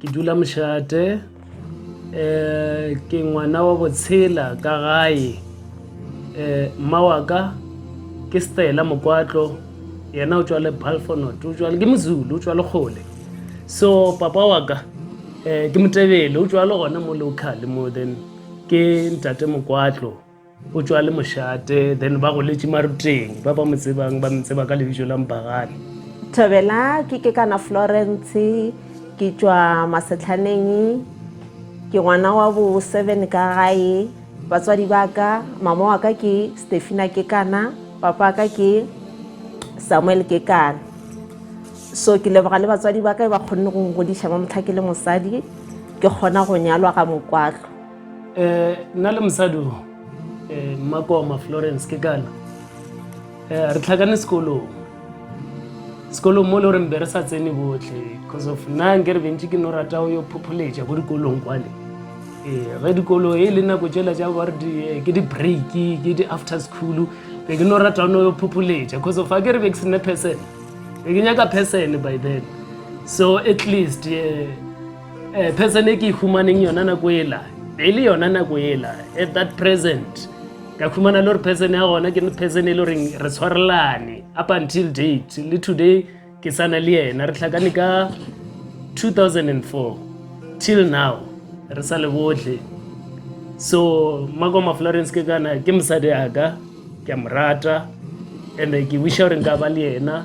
ke dula mošate um ke ngwana wa botshela ka gae um mma wa ka ke stela mokwatlo yena o tswa le balfonot o tswa ke mozulu o tswa le kgole so papa wa ka um ke motebele o tswa le gona mo local mo then ke ntate mokwatlo o tšwa le mošate then ba goletše maruteng ba ba mo tsebang ba mtseba ka lebitso la mpagane thobela ke ke kana florence ke tšwa masetlhaneng ke ngwana wa bo seven ka gae batswadi ba ka mama wa ka ke stefina ke kana papa ka ke samuel ke kana so ke leboga le batswadi ba ka e ba kgonne go ngodiša ba motlha ke le mosadi ke kgona go nyalwa ga mokwatlo Eh, nna le mosadi o eh, mmakoma florence ke kana eh, re tlhakane sekolong sekolong mo le goreng be re sa tsene botlhe because of nna nke re bentši ke no rata o yo phopholetša ko dikolong kwane ee ge dikolo e le nako tšela tša ba re di- eh, ke di-break ke di-after school be ke no rata o no yo phopholetša because of a ke re be ke sene person be ke nyaka person by then so at least eh, Eh, person e ke e humaneng yona nako ela e le yona nako ela at that present ka khumana le gore person ya gona ke person e le goreng re tshwarelane up until date le today ke sana le yena re tlhakane ka 2004 till now re sa le botlhe so makoma florence ke kana ke mosadi aka ke a mo rata and ke wisha gore nka ba le yena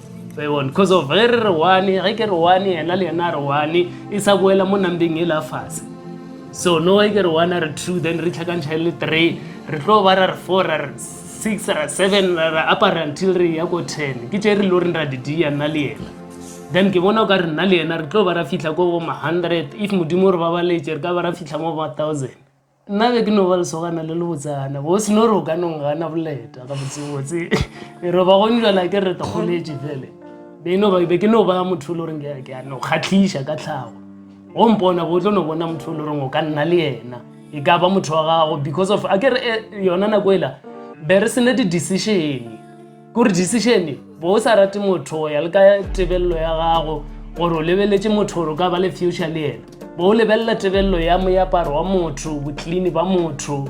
Bebon, because of ge re re one ge ke re one yena le yena a re one e sa boela mo nambeng e la fase so no ge ke re one a re two then re tlhakantšha le three re tlo ba ra re four ra re six ra seven ra re apara until re ya ko ten ke tše re lo reng ra di dia nna le yena then ke bona o ka re nna le yena re tlo ba ra fitlha ko bo ma hundred if modimo re babaletše re ka ba ra fitlha mo ba thousand nna be ke no ba lesogana le lebotsana bo seno re o ka nong gana boleta ga botsebotse e re ba gone jala ke re tokgoletše fele be no be ke no ba motho le goreng ke a no kgatlhiša ka tlhago go mpona bo tlo no bona motho le goreng o ka nna le yena e ka ba motho wa gago because of a ke re eh, yona nako ela be re sene di-decision kore decision bo o sa rate motho go ya le ka tebelelo ya gago gore o lebeletse motho gore o ka ba le future le yena bo o lebelela tebelelo ya moaparo wa motho boclean ba motho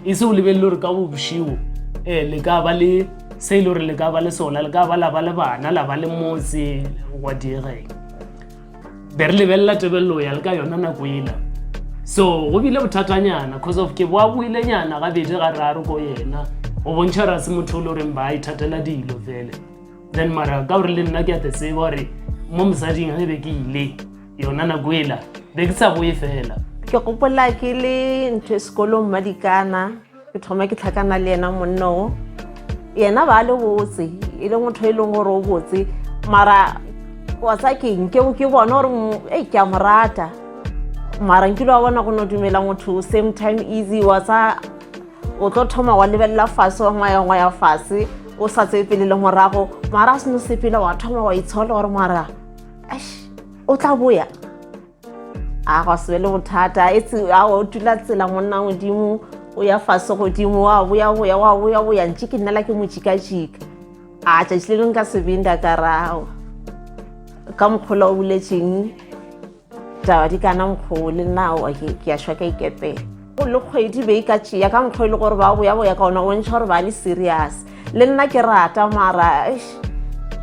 e se o lebelele gore ka bošiwo um eh, le ka ba le se e le gore le ka ba le sona le ka ba la ba le bana la ba le motse wa diegeng be re lebelela tebelelo ya le ka yona nako ela so go bile bothatanyana cause of ke boa boile nyana gabedi ga raro ko yena o bontšha ra se motho o le goreng ba ithatela dilo fele then mara ka gore le nna ke a te tseba gore mo mosading ge be ke ile yona nako ela be ke sa boe fela ke gopola ke le ntho e sekolong madikana ke thoma ke tlhakana le yena monna o yena ba le botse e le motho e leng gore o botse mara wa tsa keng ke ke bona gore e ke a mo rata mara nkile wa bona go no dumela motho same time easy wa tsa o tlo thoma wa lebelela fase wa ngwaya ngwaya fase o sa tseye pele le morago mara a seno sepele wa thoma wa itshola gore mara o tla boya a go se be le bothata e tse a o tula tsela monna godimo o ya fase godimo wa boya boya wa boya boya ntše ke nnela ke mo jikajika a tšatši le leng ka sebinda ka rago ka mokgola o buletseng taba di kana mokgoo le nna ke a shwa ka ikepela go le kgwedi be e ka tšea ka mokgwa e le gore ba boyaboya ka ona o ntšha gore ba le serious le nna ke rata mara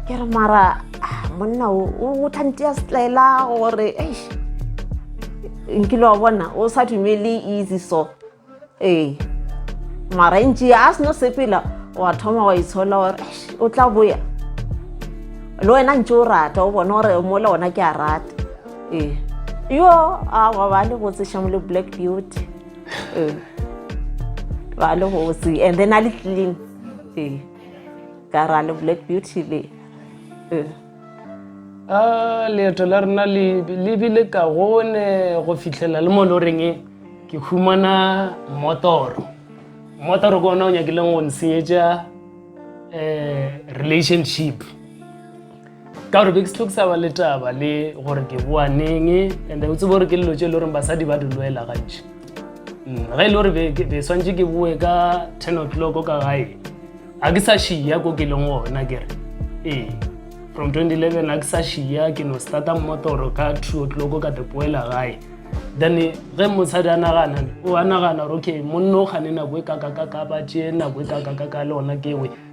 ke re mara ah, monna o tlantea setlaela gore nkile wa bona o sa dumele easy so ee mara e ntšea a seno sepela wa thoma wa itshola gore o tla boya le wena ntse o rata o bona gore mola ona ke a rata ee yo a wa ba le botse shamo le black beauty ee ba le botse and then a le clean ee ka ra le black beauty le ee a leeto la rena le le bile ka gone go fitlhela le mo loreng e ke humana motoro motoro ke ona o nyakileng go nsenyetša um relationship ka gore be ke se tlo ke sa ba le taba le gore ke boa neng and o tsebe gore ke lelo tse e le goreng basadi ba di loela gantši mm, ge e le gore be swantse ke boe ka ten o'clock ka gae ga ke sa šia ko ke leng gona kere ee from 2011 ga ke sa šia ke no starta mmotoro ka two o'clock ka tepoela gae then ge mosadi a nagana o a nagana gore okay monno o kgane nako e kakakakaba tše nako e kakakaka le ona kewe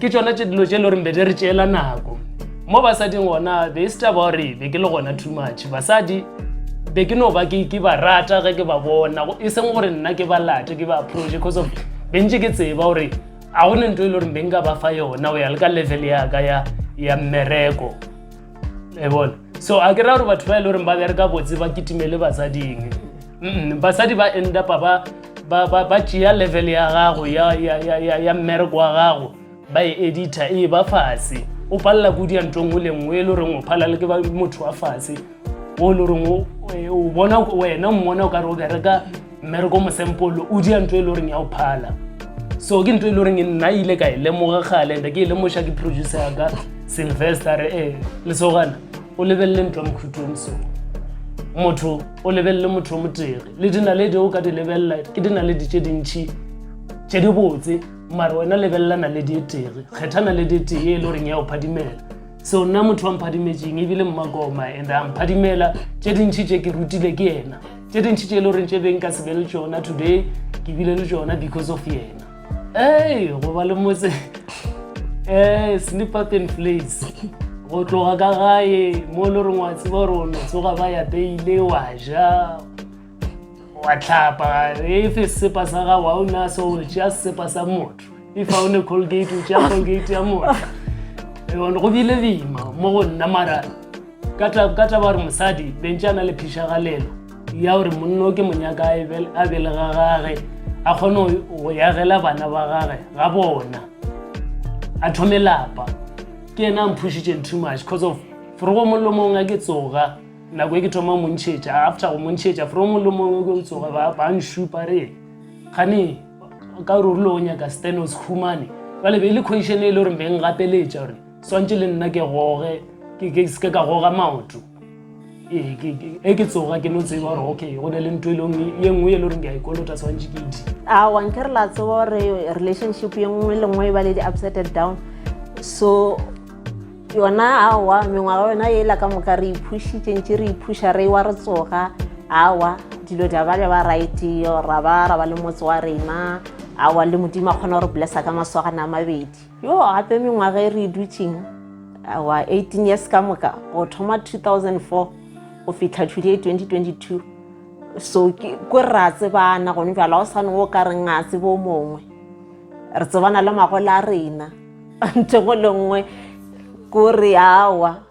ke tšona tše dilo tše e le goreng be di re tšeela nako mo basading gona be e se taba gore be ke le gona too much basadi be ke no ba ke ke ba rata ge ke ba bona e seng gore nna ke ba late ke ba approach because of be ntse ke tseba gore ga go ne nto e le goreng be nka ba fa yona o ya le ka level yaka ya ya mmereko e bona so a ke ra gore batho ba e le goreng ba bereka botse ba kitimele basading basadi ba endapa ba ba ba ba tšea level ya gago ya ya ya ya ya mmereko wa gago ba e edita e ba fase o palela kudi ya ntong o lengwe e le goreng o phala le ke ba motho wa fase o le goreng o e, o bona wena mmona o ka re o bereka mmereko mosempolo o dia ntho e le goreng ya o phala so ke ntho e le goreng nna ile ka e lemoga gale nda ke e lemoša ke producer yaka sylvester re ee lesogana o lebelele ntwa mokhutlong so motho o lebelele motho o motere le dinaledi o ka di lebelela ke dinaledi tše dintšhi tše di botse mare wena lebelela naledi e tere kgetha naledi e tee e le goreng ya o phadimela so nna motho wa mphadimetseng ebile mmakoma and a mphadimela tše dintšhi tše ke rutile ke ena tše dintši tše e le goreng tše beng ka se be le tšona today ke bile le tšona because of yena ee go ba le motse ee sleep up and place go tloga ka gae mo e le goreng wa tseba gore o no tsoga ba yapeile wa ja wa tlhapa efe sesepa sa gago ga o na so o tšea sesepa sa motho if ga o ne colgate o tšea colgate ya motho go bile bima mo go nna marang ka taba ya gore mosadi bentse a na le phišagalelo ya gore monno ke monyaka a belega gage a kgone go yagela bana ba gage ga bona a thome lapa ke ena a mphušitšeng too much because of forogo mollo mongwe a ke tsoga nako e ke thoma montšhetša after go montšhetša forogo mollo mongwe ke tsoga ba nšupa re gane ka gore o rile o nyaka stanos humane jale be e le question e le gore beng gapeletša gore swantše le nna ke goge ke seke ka goga maoto ee, e ke tsoga ke no tseba gore okay go ne le ntho e leng ye nngwe e le goreng ke a ikolota swantše ke di a wanke re la tseba gore relationship ye nngwe le nngwe e ba le di-upsetted down so yona awa mengwaga yona e la ka moka re iphušitše ntše re iphuša re wa re tsoga awa dilo di ba ja ba right ra ba ra ba le motse wa rena awa le modimo a kgona gore blessa ka maswagana a mabedi Yo gape mengwaga e re e dutšeng wa 18 years ka moka go thoma 2004 go fihla tšhudi e 2022 so ke ko re a tsebana gone bjala o sane o ka reng a tsebo mongwe re tsebana le magola a rena ntho go le nngwe ko re awa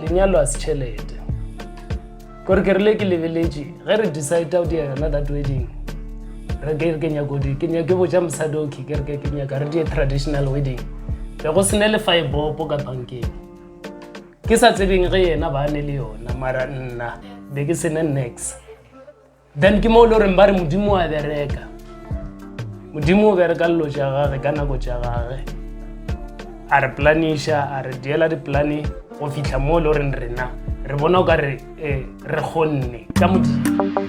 lenyalo a se tšhelete kore ke rile ke lebeletše ge re decide o dia yona that wedding re ke ke nyako di ke nyake boja mosadi okay ke re ke ke nyaka re die traditional wedding be go sene le five bopo ka bankeng ke sa tsebeng ge yena ba ne le yona mara nna be ke sene next then ke moo e le goreng ba re modimo wa bereka modimo o bereka lelo tša gage ka nako tša gage a re planiša a re diela diplane go fitlha moo e le goreng rena re bona o ka re eh, re kgonne ka modimo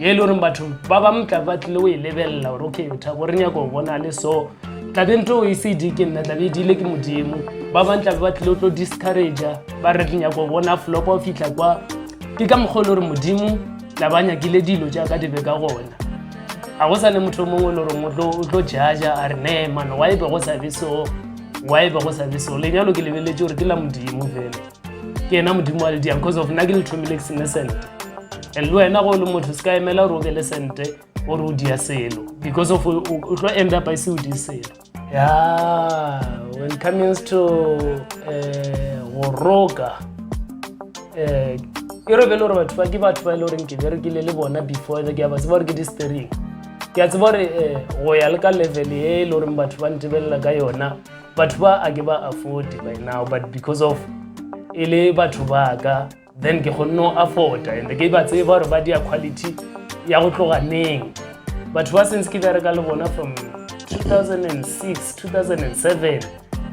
ye e le goreng batho ba bangwe tla ba tlile o e lebelela gore okay tha gore nyako go bona le so tlabe nto o e se di ke nna tlabe e dile ke modimo ba bangwe tlabe ba tlile o tlo discouragea ba re nyako bona flopa o fitlha kwa ke ka mokgwa e le gore modimo tla ba nyakile dilo jaaka di be ka gona ga go sa ne motho o mongwe e le goreng o tlo jaja a re ne mano wa e be go sa be so wa e be go sa be so lenyalo ke lebeletse gore ke la modimo fela ke yena modimo wa lediang cause of nna ke le thomile ke sene sente and le wena go le motho se ka emela gore o be le sente gore o dia selo because of o tlo end up ise o di selo ya when it comes to eh, go roka eh, e re be le gore batho ba ke batho ba e le goreng ke berekile le bona before ke a ba tseba gore ke di-stering ke a tseba gore eh, go ya le ka level e e le goreng batho ba ntebelela ka yona batho ba a ke ba afford by now but because of e le batho ba ka then ke kgonne go afforda and ke ba tseba gore ba dia quality ya go tloga neng batho ba since ke bereka le bona from 2006 2007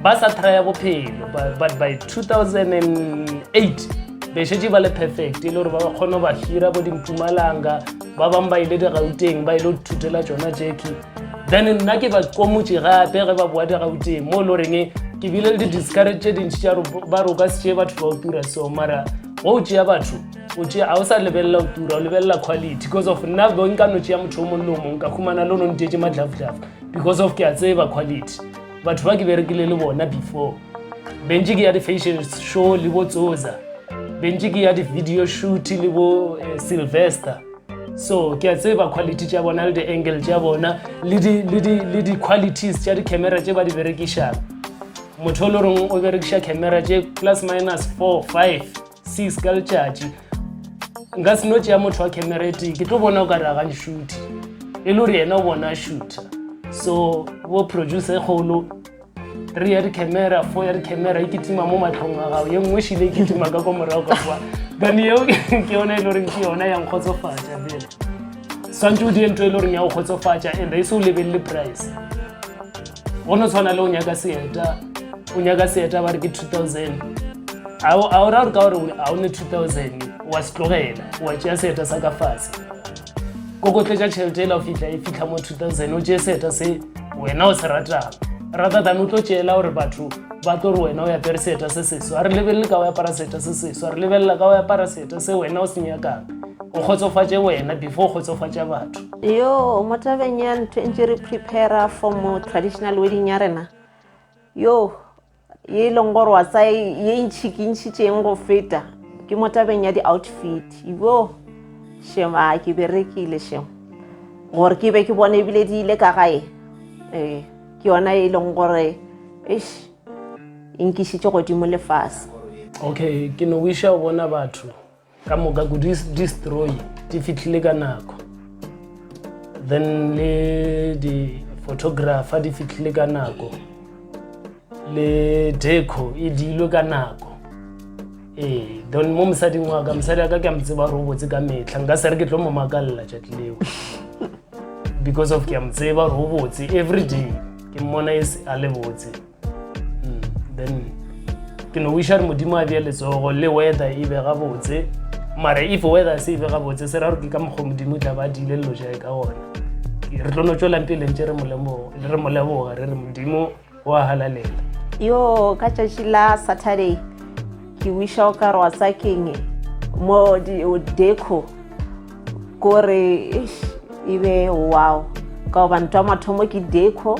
ba sa trya bophelo but by 2008 bešetse ba le perfect e le gore ba ba kgone go ba hira bo dimpumalanga ba bangwe ba ile digauteng ba ile go thutela tsona jacki then nna ke ba komotše gape ge ba boa digauteng mo e le goreng ke bile le di-discarate tše dintši tša ba roka se tšee batho ba o tura so mara go o tšea batho o tšea ga o sa lebelela o tura o lebelela quality because of nna bo nka no tšea motho o mongwe le o mongwe ka humana le o no nteetse madlafudlafu because of ke a tseba quality batho ba ke berekile le bona before bentse ke ya di-fashion show le bo tsoza bentse ke ya di-video shoot le bo eh, sylvester so ke a tseba quality tša bona le di-angle tša bona le di-qualities tša di-camera tše ba di berekišang motho o le reng o berekiša camera tše plus minus four five six ka letšatši nka se no tšea motho wa camera e tee ke tlo bona o ka re agane shoote e le gore yena o bona shooter so bo producer e kgolo re ya dicamera fo ya dicamera e kitima mo matlhong a gago ye nngwe šile e kitima ka kwa morago ka kwa then eo ke yona e le goreng ke yona yang kgotsofatsa bele swantse o die ntho e le goreng ya go kgotsofatsa and e se o lebelele price go no tshwana le o nyaka seeta o nyaka seeta ba re ke 2000 a o ra gore ka gore a o ne 2000 wa se tlogela wa tšea seeta sa ka fase kokotletša tšhelete ela o fitlha e fitlha mo 2000 o tšee seeta se wena o se ratago rata tane o tlo tšeela gore batho ba tlo re wena o yapere seeta se seswa re lebelele ka o apara seeta se seswa re lebelela ka o apara seeta se wena o se nyakang o kgotsofatše wena before o kgotsofatša batho yo mo tabeng ya ntho e ntse re prepara for mo traditional wedding ya rena yo ye e leng gore wa sa ye ntšhi ke ntšhitšeng go feta ke mo tabeng ya di-outfit ibo shema ke berekile shem gore ke be ke bone ebile di ile ka gae ee ke yona e leng gore eish e nkišitše godimo lefase okay ke no wiša o bona batho ka moka ku destroy di fihlile ka nako then le di-photographer di fihlile ka nako le deco e dilwe ka nako ee then mo mosading wa ka mosadi wa ka ke a mo tseba gore o botse ka metlha nka se re ke tlo mo makalela tšatši leo because of ke a mo tseba gore o botse every day ke mmona e a le botse hmm, then ke no wiša re modimo a bja letsogo le weather e be gabotse mara if weather se e be gabotse se ra gore ke ka mokgwa modimo tla ba dile lelo jae ka gona re tlo no tswelang pele ntse re moleboga re re modimo wa halalela yo ka tšatši la saturday ke wiša o ka re wa sakeng mo deco kore e be wow ka gobane twa mathomo ke deco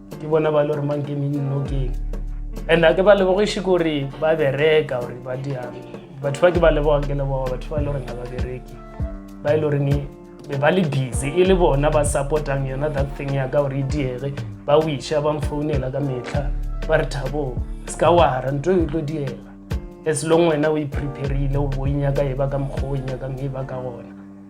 ke bona ba le gore mang ke mennokeng and a ke ba lebogiše gore ba bereka gore ba diang batho ba ke ba lebogang ke leboga batho ba e le goreng ga ba bereke ba e le goreng be ba le busy e le bona ba supportang yona that thing ya ka gore e diege ba wisha ba mfounela ka metlha ba re thabo se ka wara nto e tlo diega as long wena o e preparile o bo e nyaka e ba ka mokgwa o e nyakang e ba ka gona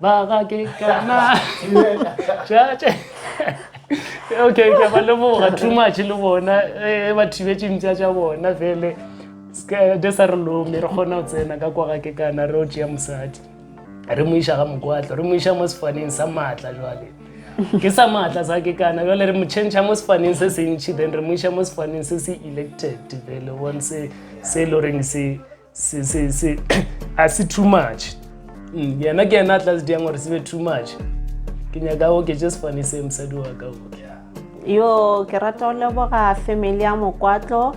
ba ga ke kana tšatše okay ke ba leboga too much le bona e ba thibetše mpša tša bona fele de sa re lome re kgona go tsena ka kwa ga ke kana re o tšea mosadi re mo iša ga mokwatlo re mo iša mo sefaneng sa maatla jwale ke sa maatla sa ke kana jwale re mo change mo sefaneng se sentšhi then re mo iša mo sefaneng se se elected fele one se se e le goreng se se se se a se too much mm, yena ke yena a tla se diang gore se be too much ke nyaka o ke just fane se mosadi wa ka o yo ke rata go leboga family ya mokwatlo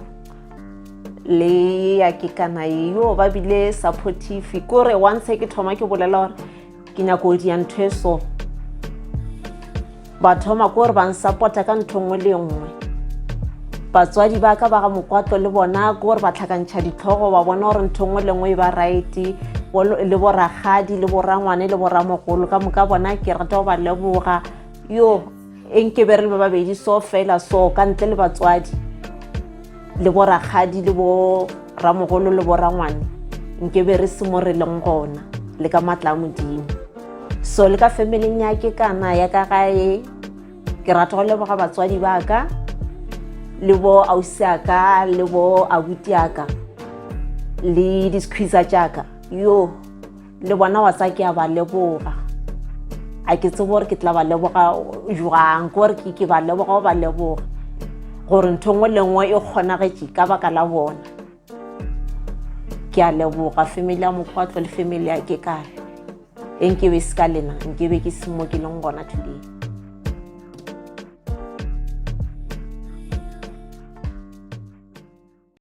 le ya kekana yo ba bile supportive kore once ke thoma ke bolela gore ke nyako o dia ntho e so ba thoma ko gore ba nsapota ka ntho nngwe le nngwe batswadi ba ka ba ga mokwatlo le bona ko gore ba tlhakantšha ditlhogo ba bona gore ntho nngwe le nngwe e ba righte le boragadi le borangwane le boramogolo ka moka bona ke rata go ba leboga yo e nke be re le ba babedi so fela so ka ntle le batswadi le bo rakgadi le bo ramogolo le bo rangwane nke be re se mo re leng gona le ka matla a modimo so le ka familing ya ke kana ya ka gae ke rata go leboga batswadi ba ka le bo ausi a ka le bo abuti a ka le diskhwisa tša ka yoo le bona wa tsa ke a ba leboga a ke tsebo gore ke tla ba leboga jwang ke gore ke ba leboga o ba leboga gore ntho nngwe le nngwe e kgonagetše ka baka la bona ke a leboga family ya mokgwatlo le family ya ke kare e nkebe se ka lena nkebe ke semo ke leng gona today